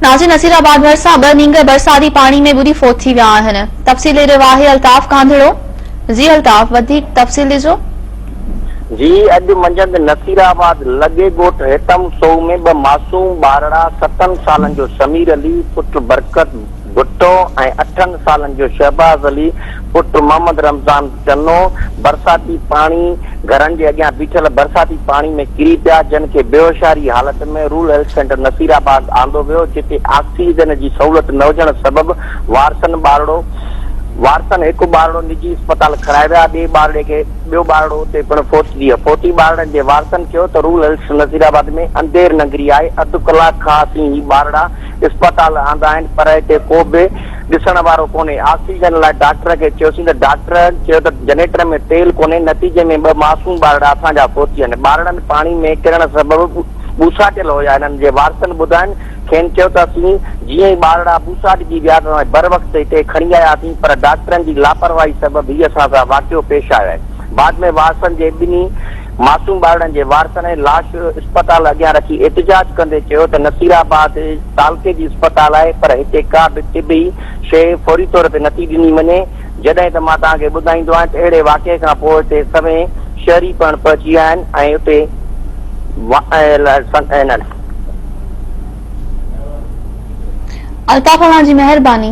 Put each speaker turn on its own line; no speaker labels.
ناظر نصير آباد ڀرسان ٻه نينگر برساتي پاڻي ۾ ٻڏي فوت ٿي ويا آهن تفصيل ڏئي رهيو آهي الطاف ڪانڌڙو جي الطاف وڌيڪ تفصيل ڏجو. جي
اڄ منجهند نصير آباد لڳي ڳوٺ هيتم سوء ۾ ٻه معصوم ٻارڙا ستن سالن جو سمير علي پٽ برڪت، ڀٽو ۽ اٺن سالن جو شهباز علي پٽ محمد رمضان چنو برساتي پاڻي گهرن جي اڳيان بيٺل برساتي پاڻي ۾ ڪري پيا جن کي بيهوشاري حالت ۾ rural health centre Nasirabad آندو ويو جتي آڪسيجن جي سهولت نه هجڻ سبب وارثن ٻارڙو وارثن هڪ ٻارڙو نجي اسپتال کڻائي ويا ٻئي ٻارڙي کي ٻيو ٻارڙو اتي پڻ فوت ٿي ويو فوتي ٻارڙن جي وارثن چيو ته رورل هيلٿ نصير آباد ۾ اندير ننگري آهي اڌ ڪلاڪ کان اسين هي ٻارڙا اسپتال آندا آهن پر هتي ڪو به ڏسڻ وارو ڪونهي، آڪسيجن لاء ڊاڪٽر کي چيوسين ته ڊاڪٽر چيو ته جنريٽر ۾ تيل ڪونهي، نتيجي ۾ ٻه معصوم ٻارڙا اسان جا فوت ٿيا آهن، ٻارڙن پاڻي ۾ ڪرڻ سبب ٻوساٽيل هيا، هنن جي وارثن ٻڌائين کين چيو ته اسين جيئن ئي ٻارڙا ٻوساٽجي ويا ته اسان بروقت هتي کڻي آياسين پر ڊاڪٽرن جي لاپرواهي سبب هي اسان سان واقعو پيش آيو آهي، بعد ۾ وارثن جي ٻنهي. معصوم ٻارڙن جي وارثن ۽ لاش اسپتال اڳيان رکي احتجاج ڪندي چيو ته نصيرآباد تعلقي جي اسپتال آهي پر هتي ڪا به طبي شيء فوري طور تي نٿي ڏني وڃي جڏهن ته مان توهان کي ٻڌائيندو آهيان ته اهڙي واقعي کان پوء هتي سوين شهري پڻ پهچي ويا آهن ۽ اتي انهن الطاف اوهان
جي مهرباني.